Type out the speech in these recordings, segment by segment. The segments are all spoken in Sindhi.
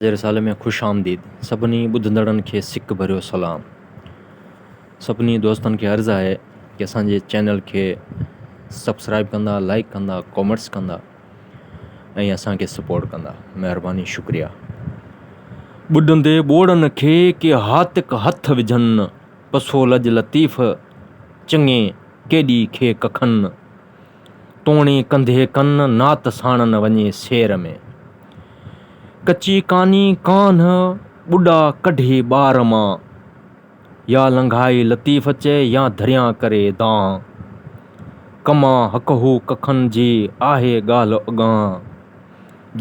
جي رسالي ۾ خوش آمديد. سڀني ٻڌندڙن کي سڪ ڀريو سلام. سڀني دوستن کي عرض آهي ته اسان جي چينل کي سبسڪرائيب ڪندا، لائيڪ ڪندا، ڪامينٽس ڪندا ۽ اسان کي سپورٽ ڪندا. مهرباني شڪريا. ٻڏندي ٻوڙن کي ڪي هاتڪ هٿ وجهن، پسو لڄ لطيف چڱي ڪيڏي کي ڪکن. توڻي ڪنڌي ڪن نات ساڻن وڃي سير ۾. ڪچي ڪاني ڪانه ٻڏا ڪڍي ٻار مان. يا لنگهائي لطيف چئي يا ڌريان ڪري دانهن. ڪمان هڪهو ڪکن جي آهي ڳالهه اڳانهن.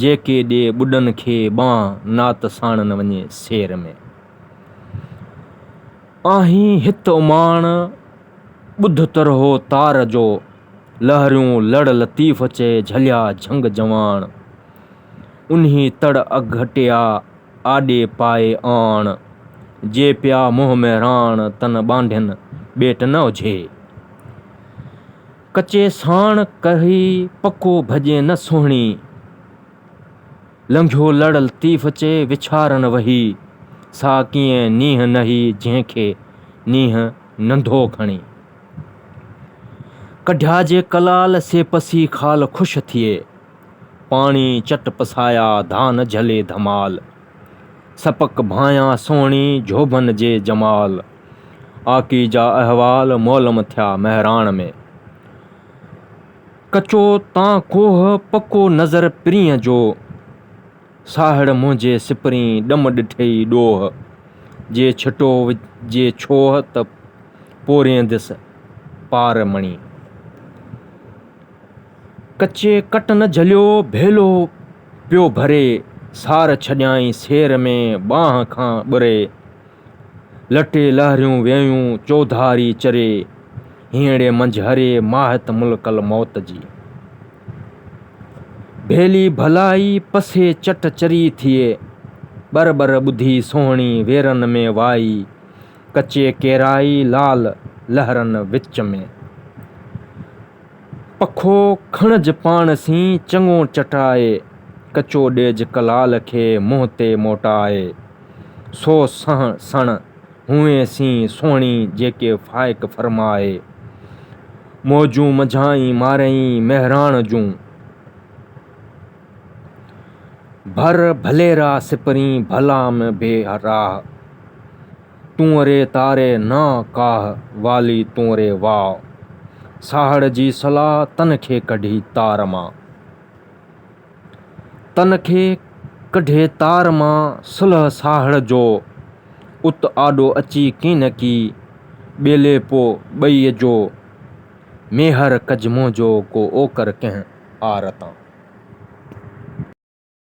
جيڪي ڏي ٻڏن کي ٻانهن نات ساڻن وڃي سير ۾. آهين هت اماڻ. ٻڌ ترهو تار جو، لهريون لڙ لطيف چئي جهليا جهنگ جواڻ. انهي تڙ اگهٽيا آڏي پائي آڻ، جي پيا منهن ۾ راڻ تن ٻانڍين ٻيٽ نه اجهي. ڪچي ساڻ ڪهي پڪو ڀڄين نه سهڻي. لنگهيو لڙ لطيف چي وڇارن وهي، سا ڪيئن نينهن نهي جنهن کي نينهن ننڍو کڻي. ڪڍيا جي ڪلال سي پسي خال خوش ٿئي، پاڻي چٽ پسايا ڌان جهلي ڌمال. سپڪ ڀانئيا سهڻي جهوڀن جي جمال، آڪي جا احوال مولم ٿيا مهراڻ ۾. ڪچو تان ڪوهه پڪو نظر پرينء جو، ساهڙ منهنجي سپرين ڏم ڏٺئي ڏوهه، جي ڇٽو جي ڇوهه ته پورينديس پار مڻي. ڪچي ڪٽ نه جهليو ڀيلو پيو ڀري، سار ڇڏيائين سير ۾ ٻانهه کان ٻري. لٽي لهريون ويون چوڌاري چري، هينئڙي منجهه هري ماهت ملڪ الموت جي. ڀيلي ڀلائي پسي چٽ چري ٿئي، ٻر ٻر ٻڌي سهڻي ويرن ۾ وائي، ڪچي ڪيرائي لال لهرن وچ ۾. پکو کڻج پاڻ سين چڱو چٽائي، ڪچو ڏيج ڪلال کي منهن تي موٽائي. سو سهڻ سڻ هونئين سين سهڻي جيڪي فائق فرمائي. موجون منجهائين مارئين مهراڻ جون. ڀر ڀليرا سپرين ڀلا م بي راهه. تون ري تاري نا ڪاهه والي تون ري واء. ساهڙ جي صلاح تن کي ڪڍي تار مان. تن کي ڪڍي تار مان صلح ساهڙ جو. ات آڏو اچي ڪين ڪي ٻيلي پو ٻئي جو. ميهر ڪج منهنجو ڪو اوڪر ڪنهن آر تان.